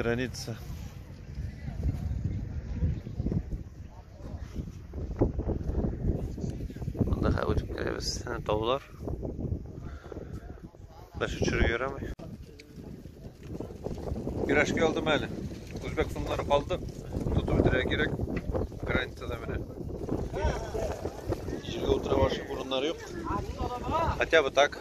Граница. Анда хәзер үтеп керәбез. Таулар. Бәш төшереп йөрәмей. Пирожки алдым әле. Үзбәк сумнары калды. Тотып бетерә кирәк. Границада менә. Җиргә утыра башы урыннары юк. Хотя бы так.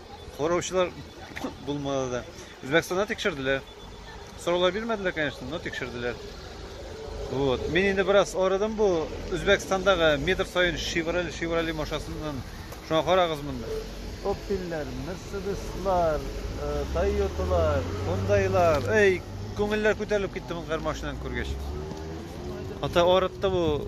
Караучылар булмады да. Үзбәкстанда тикшерделәр. Сораулар бирмәделәр, конечно, но тикшерделәр. Вот. Мин инде бераз арыдым бу Үзбәкстандагы метр саен Шевроле, Шевроле машинасыннан. Шуңа карагыз монда. Opel'ler, Mercedes'lar, э, Toyota'lar, Hyundai'lar. Эй, күңелләр күтәрелеп китте мондагы машинаны күргәч. Ата арытты бу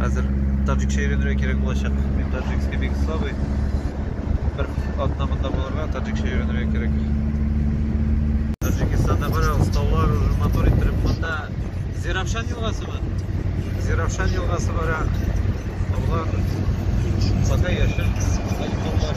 Хәзер таджикча өйрәнергә кирәк булачак. Мин таджикский бик слабый. Бер атна монда булырга таджикча өйрәнергә кирәк. Таджикстанда карагыз, таулар уже мотор иттереп монда Зирапшан елгасымы? Зирапшан елгасы бара. Таулар пока яшел, таулар.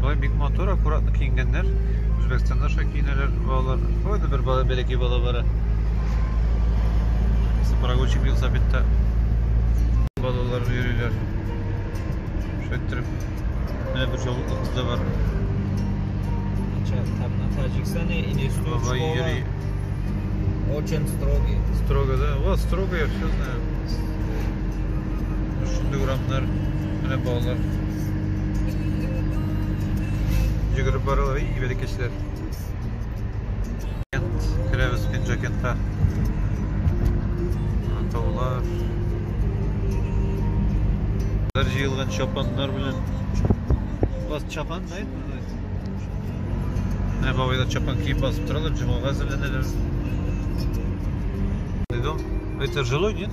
Болай бик матур, аккуратно киенгәннәр. Үзбәкстанда шулай киенәләр балалар. Ой, да бер бала, бәләкәй бала бара. Прогулчик велосипедта балалар йөриләр. Шулай иттереп, менә бер җавыклы кыз да бар. Таджикстане или что школа очень строгий. Строго, да? Вот, строго, я все знаю. Шундый урамнар. Менә балалар. Йөгереп баралар, и, бәләкәчләр. Керәбез Пинджакентка. Таулар. Бер җыелган чапаннар белән. Бас чапан, да? Менә бабайлар чапан киеп басып торалар, җомага әзерләнәләр. Дидом, это жилой, нет?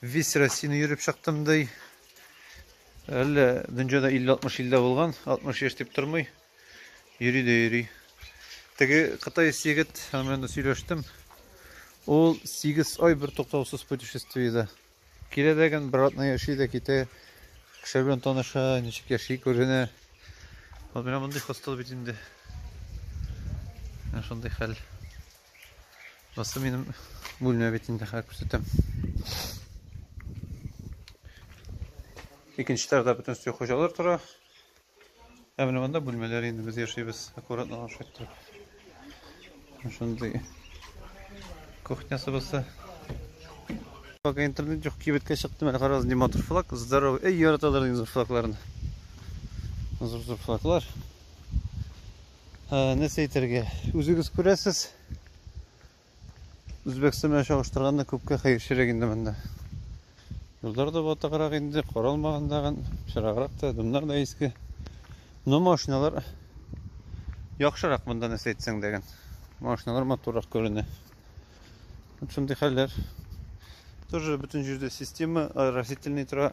Весь Россияне йөреп чыктым ди. Әллә дөньяда 50-60 илдә булган, 60 яшь дип тормый. Йөри дә йөри. Теге кытай егет белән сөйләштем. Ул 8 ай бер туктаусыз путешествиедә. Килә дә гән бер атна яши дә китә. Кеше белән таныша, ничек яши күренә. Вот менә мондый хостел бит инде. Шундый хәл. Монысы минем бүлмә бит инде хәзер күрсәтәм. Икенче тарда бөтен өсте хуҗалар тора. Ә менә монда бүлмәләр инде без яшибез. Аккуратно ашап торып. Шундый кухнясы булса. Пока интернет юк, кибеткә чыктым. Әле карагыз, ни матур флаг. Здоровый. Эй, яраталар инде флагларны. Зур-зур флаглар. нәрсә әйтергә үзегез күрәсез үзбәкстан белән чагыштырганда күпкә хәерчерәк инде монда юллар да батыграк инде каралмаган тагын пычраграк та дымнар да иске но машиналар яхшырак монда нәрсә әйтсәң дәген машиналар матуррак күренә вот шундый хәлләр тоже бөтен җирдә система растительный тора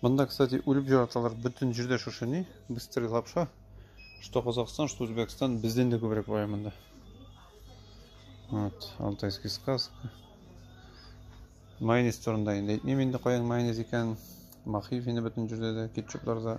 Монда, кстати, үлеп жараталар бөтен җирдә шушы ни, быстрый лапша. Что Казахстан, что Узбекстан, бездән дә күбрәк бая монда. Вот, алтайский сказка. Майонез турында инде әйтмим инде каян майонез икән. Махив инде бөтен җирдә дә, кетчупларда.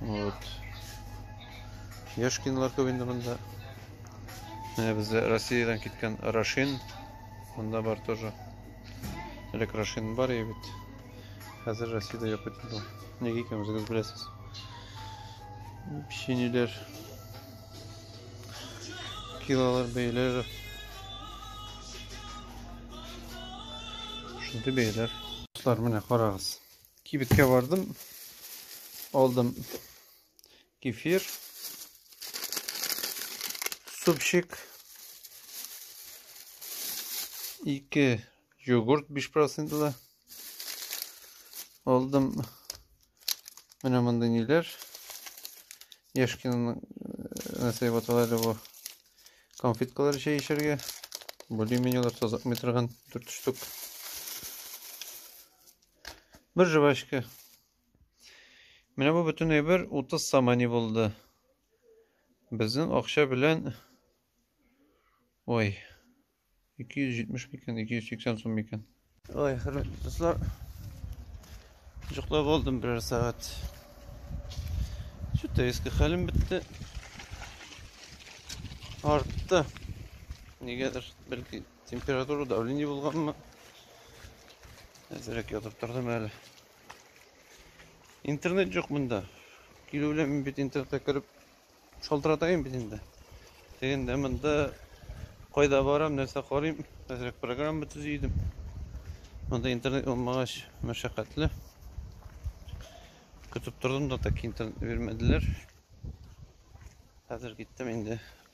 Вот. Яшкинлар күп инде монда. Менә бездә Россиядән киткән Рашин. Монда бар тоже. Элек Рашин бар и бит. Хәзер Россиядә юк бит инде. Нигә икән үзегез беләсез. Печеньеләр. Килолар бәйләре. Шундый бәйләр. Дуслар, менә карагыз. Кибеткә бардым. Алдым кефир. Супчик. Ике йогурт 5 процентлы. Алдым. Менә монда ниләр. Яшкинаның нәрсә дип атала әле бу. Конфеткалар чәй эчәргә. Более-менее алар таза метрган 4 штук. Бер жвачка. Менә бу бөтен әйбер 30 самани булды. Безнең акча белән Ой. 270 микән, 280 сум микән. Ой, хөрмәтле дуслар. Җоклап алдым берәр сәгать. Чүтә иске хәлем бетте. Артта. Нигәдер, бәлки Температура давление булганмы? Әзрәк ятып тордым әле. Интернет жоқ монда. Килү белән мин бит интернетка кереп шалтыратайын бит инде. Дегендә монда кайда барам, нәрсә карыйм, әзрәк программа төзи идем. Монда интернет булмагач, мәшәкатьле. Көтеп тордым да так интернет бирмәделәр. Хәзер киттем инде.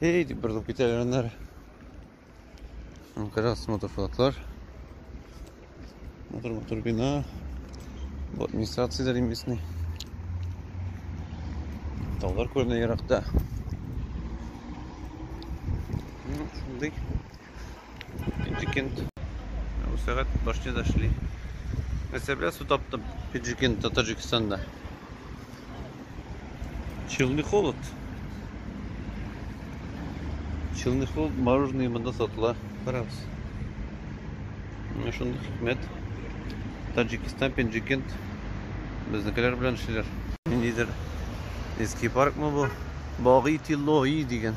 Эй, дип борылып китәләр аннары. Карагыз, мотофлотлар. Мотор-мотор бина. Бу администрациядә римесный. Таулар күренә еракта. Ну, шундый. Пиджикент. Ә бу сәгать башняда эшли. Нәрсә белән су таптым Пиджикент, Таджикстанда. Челны холод. Челны холод мороженое монда сатыла. Карагыз. Менә шундый хикмәт. Таджикстан, Пиджикент безнекеләр белән эшлиләр. Ниндидер Эски паркмы бу? Баги Тиллои дигән.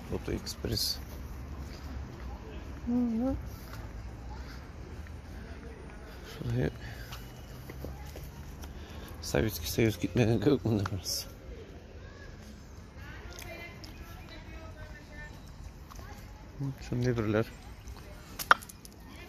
Тут экспресс. Угу. Шулай Советский Союз китмәгән кебек монда барысы. Шундый берләр.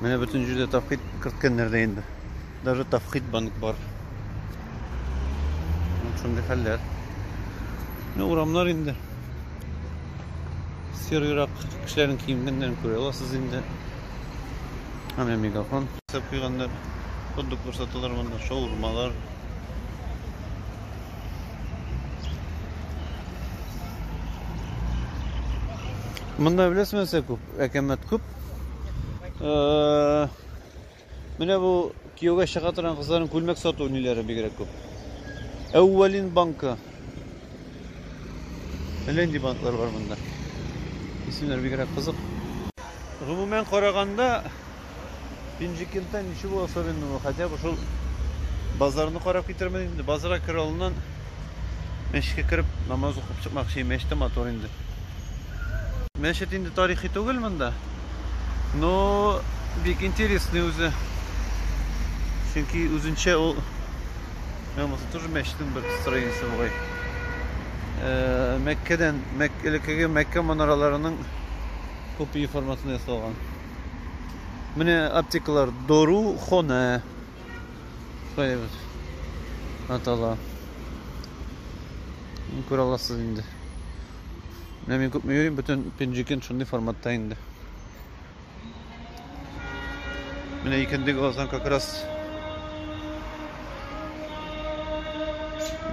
Менә бөтен җирдә тавхид керткәннәр дә инде. Даже тавхид банк бар. Вот шундый хәлләр. Ну, урамнар инде. Серыйрак кешеләрнең киенгәннәрен күрә аласыз инде. Аны мегафон сап куйганнар. Хот-дог күрсәтәләр монда, шаурмалар. Монда беләсезме, күп, әкәмәт күп. Э, менә бу кияүгә чыга торган кызларның күлмәк сату ниләре бигрәк күп. Әүвәлин банкы. Әлләнди банклар бар монда. Исемнәр бигрәк кызык. Гомумән караганда, Пенжикентта ничего особенного, хотя бы шул базарны карап китермен инде. Базара керә алдыннан мәчеткә кереп намаз укып чыкмакчы. Мәчет тә матур инде. Мәчет инде тарихи түгел монда. Но бик интересный үзе. Чөнки үзенчә ул Мен болса тоже мәчетнең бер строениесе бугай. Э, Мәккәдән, Мәк элеккеге Мәккә манараларының копия форматында ясалган. Менә аптекалар Дору Хона. Шулай атала. Күрә аласыз инде. Менә мин күпме йөрим, бөтен пенджикен шундый форматта инде. Менә икенде глаздан как раз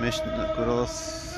мәчетне күрә аласыз.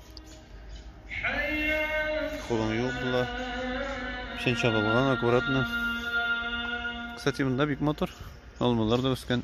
Кулым юк була. Печән чабылган аккуратно. Кстати, монда бик матур. Алмалар да үскән.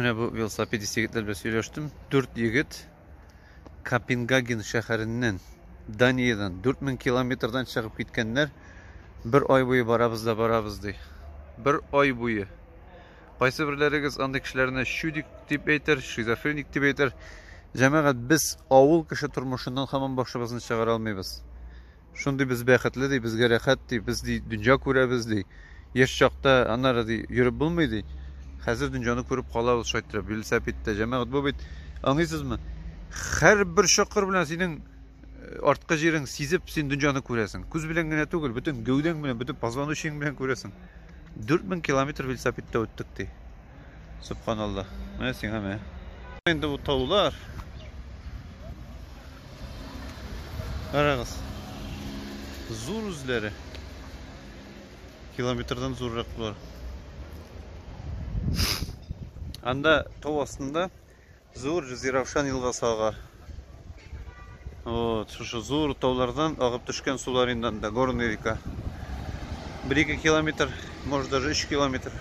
Менә бу велосипедист егетләр белән сөйләштем. Дүрт егет Копенгаген шәһәреннән, Даниядән 4000 километрдан чыгып киткәннәр. Бер ай буе барабыз да барабыз ди. Бер ай буе. Кайсыберләрегез андый кешеләрне чудик дип әйтер, шизофреник дип әйтер. Җәмәгать, без авыл кеше тормышыннан һаман башыбызны чыгара алмыйбыз. Шундый без бәхетле ди, безгә рәхәт ди, без ди дөнья күрәбез ди. Яшь чакта аннары ди йөреп булмый ди. Хәзер дөньяны күреп калабыз шайтырып, велосипедта. Җәмәгать, бу бит, аңлыйсызмы, һәрбер чокыр белән синең арткы җирең сизеп, син дөньяны күрәсең. Күз белән генә түгел, бөтен гәүдәң белән, бөтен позвоночнигың белән күрәсең. 4000 километр велосипедта үттек ди. Субханалла. Менә сиңа менә. Инде бу таулар. Карагыз. Зур үзләре. Километрдан зуррак булар. Анда тау астында Зур Җизиравшан елгасы ага. Вот, шушы зур таулардан агып төшкән сулар инде анда, горная река. 1-2 километр, может даже 3 километр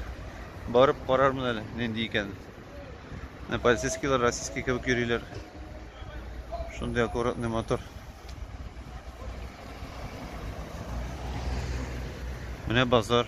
барып карармын әле, нинди икән. Ә полицейскийлар российский кебек йөриләр. Шундый аккуратный мотор. Менә базар.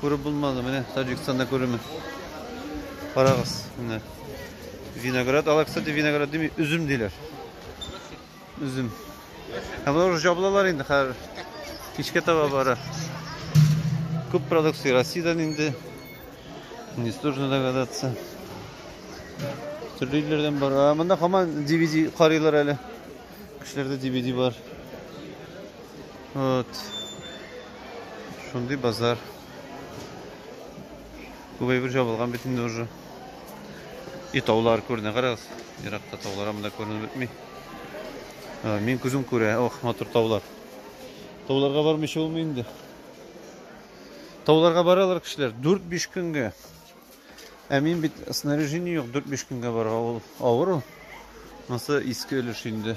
Күреп булмады, менә Таҗикстанда күреме. Карагыз, менә. Виноград, алар, кстати, виноград дими, үзем диләр. Үзем. Ә болар уже жабылалар инде хәзер. Кичкә таба бара. Күп продукция Россиядән инде. Не сложно догадаться. Төрле илләрдән бар. А монда һаман DVD карыйлар әле. Кешеләрдә DVD бар. Вот. Шундый базар. Күп әйбер жабылган бит инде уже. И таулар күренә, карагыз. Еракта таулар анда күренеп бетми. Мин күзем күрә, ох, матур таулар. Тауларга бармыйча булмый инде. Тауларга баралар кешеләр 4-5 көнгә. Ә мин бит снаряжение юк 4-5 көнгә барга ул авыр ул. Монсы иске өлеш инде.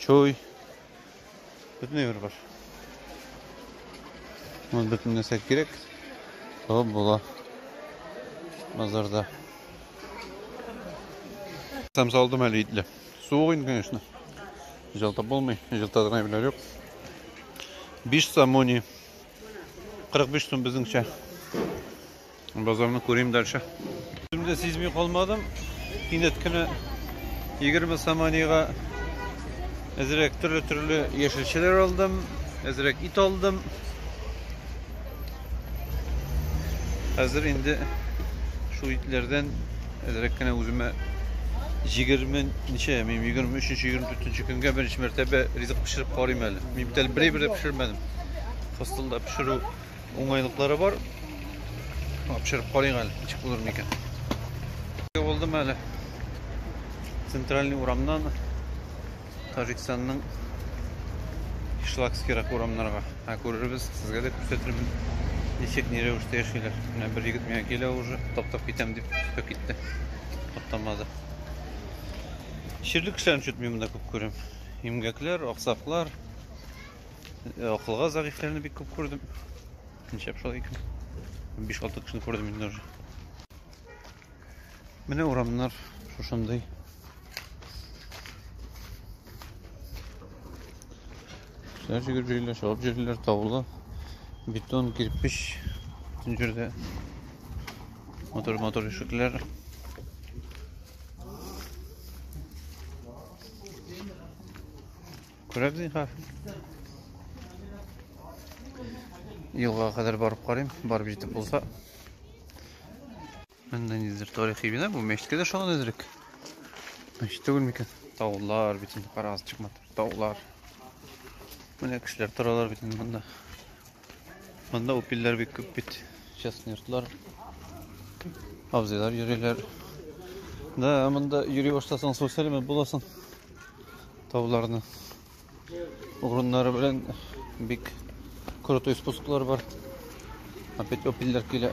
Чуй. Бөтенләй бер баш. Мон бөтен нәрсә кирәк. Табып була. Базарда. Сам салдым әле итле. Суык инде, конечно. Җылтып булмый. Җылтатырга әйберләр юк. 5 сомони. 45 сум безнеңчә. Базарны күрим дальше. Үземдә сизми калмадым. Кинәт кенә 20 саманига әзрәк төрле-төрле яшелчәләр алдым, әзрәк ит алдым. Хәзер инде шул итләрдән әзрәк кенә үземә 20 ничә, мин 23-24 көнгә беренче мәртәбә ризык пешереп карыйм әле. Мин бит әле бер-бер пешермәдем. Хостелда пешерү Уңайлыклары бар. Апшырып карыйк әле, ничек булыр микән. Булдым әле. Центральный урамнан Таҗикстанның Шлакскирак урамнарга. Ә күрербез, сезгә дә күрсәтермен. Ничек ни рәвештә яшиләр. Менә бер егет миңа килә уже, таптап китәм дип төшеп китте. Таптамады. Чирлек кешеләрен чөтми монда күп күрәм. Имгәкләр, аксаклар, Э, акылга зәгыйфьләрне бик күп күрдем. Ничәп шулай икән? 5-6 кешене күрдем инде уже. Менә урамнар шушындый. Кешеләр җигеп җөйләр, шалып җөйләр, таулы. Бетон, кирпич, бүтін жерде. Мотор, мотор ишекләр. Күрәк зинхар. Елга кадәр барып карыйм, барып җитеп булса. Менә нидер тарихи бина бу, мәчеткә дә шагын әзрәк. Мәчет түгел микән? Таулар бит инде карагыз чыкмады. Таулар. Менә кешеләр торалар бит инде монда. Монда упилләр бик күп бит. Частный йортлар. Абзыйлар йөриләр. Да, монда йөри башласаң, су сәләмәт буласың. Тауларны. Урыннары белән бик крутой спусклар бар. Опять опилләр килә.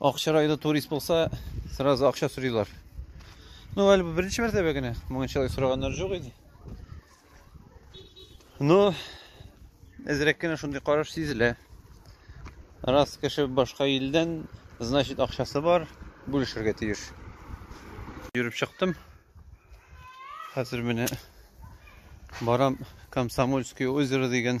Акча районы турист булса, сразу акча сорыйлар. Ну, әлбәттә, беренче мәртәбә генә моңынчалай сораганнар жоқ иде. Ну, әзрәк кенә шундый караш сизелә. Раз кеше башка илдән, значит, акчасы бар, бүлешергә тиеш. Йөреп чыктым. Хәзер менә барам Комсомольское озеро дигән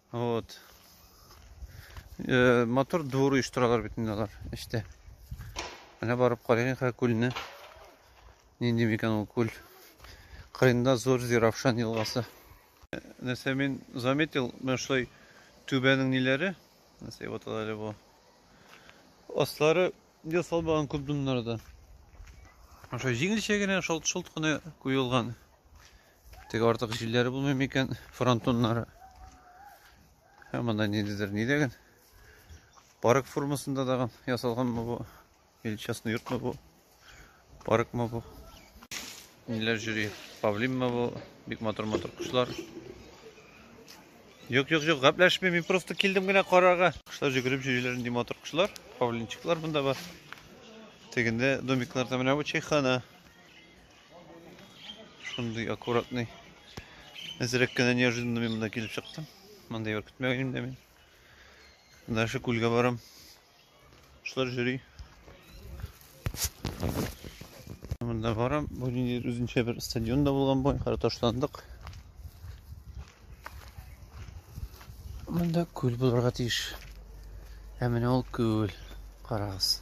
Вот. Э, мотор двор оештыралар бит инде алар эштә. Менә барып карыйк хә күлне. Нинди микән ул күл? Кырында зур Зиравшан елгасы. Э, нәрсә мин заметил, менә шулай түбәнең ниләре? Нәрсә вот әле бу. Аслары ел салмаган күп дымнарда. Аша җиңелчә генә шалт-шолт кына куелган. Теге артык җилләре булмый микән фронтоннары? Ә монда ниндидер ни дигән? Парк формасында дагы ясалганмы бу? Или частный йортмы бу? Паркмы бу? Ниләр йөри? Павлинмы бу? Бик матур-матур кошлар. Юк, юк, юк, гапләшмим, мин просто килдем генә карарга. Кошлар җөгереп йөриләр, нинди матур кошлар. Павлинчиклар монда бар. Тегендә домикларда менә бу чайхана. Шундый аккуратный. Әзрәк кенә неожиданно мин монда килеп чыктым. Мондый бер көтмәгән идем дә мин. Дальше күлгә барам. Шулар җөри. Монда барам. Бу нинди үзенчә бер стадион да булган бу. Кара ташландык. Монда күл булырга тиеш. Ә менә ул күл. Карагыз.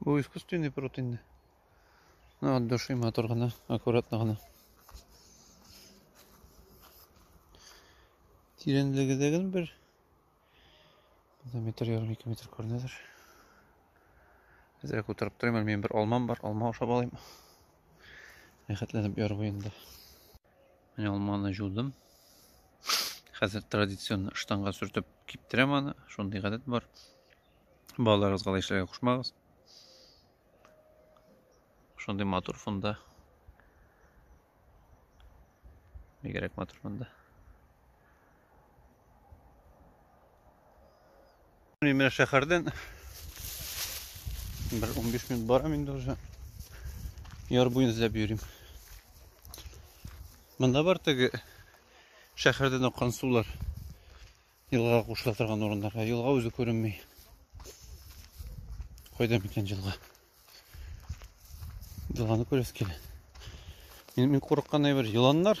Бу искусственный пруд инде. Ну, от души матур гына, аккуратно гына. Тирәнлеге дә гел бер метр ярым ике метр күренәдер. Әзрәк утырып торыйм, әле минем бер алмам бар, алма ашап алыйм. Рәхәтләнеп ярып инде. Менә алманы җудым. Хәзер традицион штанга сөртеп киптерәм аны. Шундый гадәт бар. Балаларыгызга да эшләргә кушмагыз. Шундый матур фонда. Бигрәк матур фонда. Мин менә шәһәрдән бер 15 минут барам инде уже. Яр буен эзләп йөрим. Монда бар теге шәһәрдән аккан сулар елга кушыла торган урыннарга. Елга үзе күренми. Кайда микән елга? Елганы күрәс килә. Мин, мин курыккан әйбер еланнар.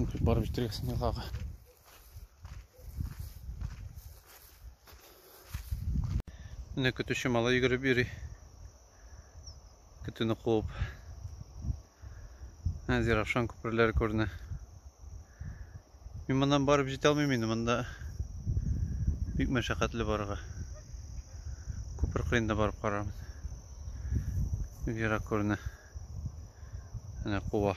Мухи бар битрех снялага. Менә көтүче мала йөгереп йөри. Көтүне куып. Ә, Зиравшан күперләре күренә. Мин моннан барып җитә алмыйм инде, монда бик мәшәкатьле барырга. Күпер кырында барып карармын. Бик ерак күренә. Әнә куа.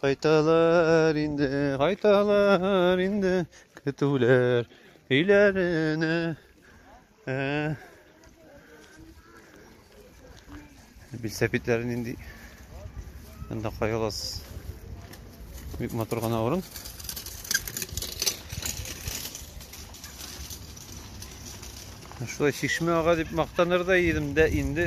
Кайталар инде, кайталар инде көтүләр өйләренә. Ә. Билсә битләрен инде. Анда кайгылас. Бик матур гына урын. Шулай чишмә ага дип мактанырдай идем дә инде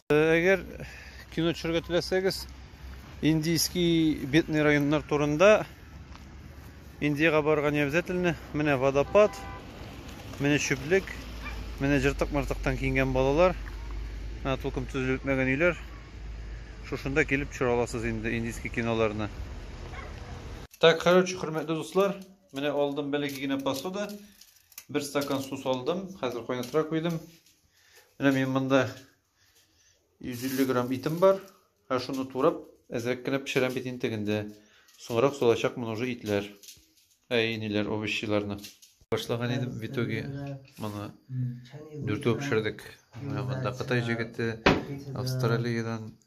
Әгәр кино төшерергә теләсәгез, индийский бедный районнар турында Индиягә барырга не обязательно. Менә водопад, менә чүплек, менә җыртык-мыртыктан киенгән балалар, ә тулкым төзелеп бетмәгән өйләр. Шушында килеп төшерә аласыз инде индийский киноларны. Так, короче, хөрмәтле дуслар, менә алдым бәләкәй генә посуда. Бер стакан су салдым, хәзер кайнатырга куйдым. Менә мин монда 150 грамм итем бар. Һәм шуны турап, әзрәк кенә пешерәм бит интегендә. Соңрак салачакмын уже итләр. Әй, ниләр, овощиларны. Башлаган идем, в итоге моны дүртәү пешердек. Монда Кытай җегете, Австралиядән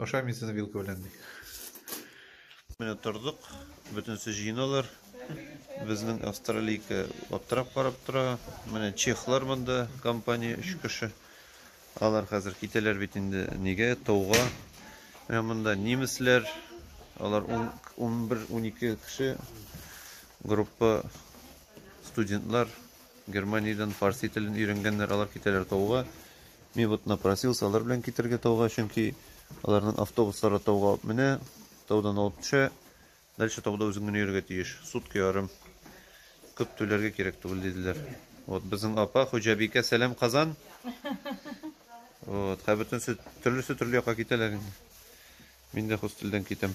Ашай мин сезне вилка белән ди. Менә тордык, бөтенесе җыеналар. Безнең австралийка аптырап карап тора. Менә чехлар монда компания 3 кеше. Алар хәзер китәләр бит инде нигә тауга. Менә монда немецләр, алар 11-12 кеше группа студентлар Германиядән фарси телен өйрәнгәннәр, алар китәләр тауга. Мин вот напросился алар белән китергә тауга, чөнки аларның автобуслары тауга алып менә, таудан алып төшә. Дальше тауда үзең генә йөрергә тиеш. Сутка ярым. Күп түләргә кирәк түгел диделәр. Вот безнең апа Хуҗабикә Сәлам Казан. Вот, хәзер бөтенесе төрлесе төрле якка китәләр инде. Мин дә хостелдән китәм.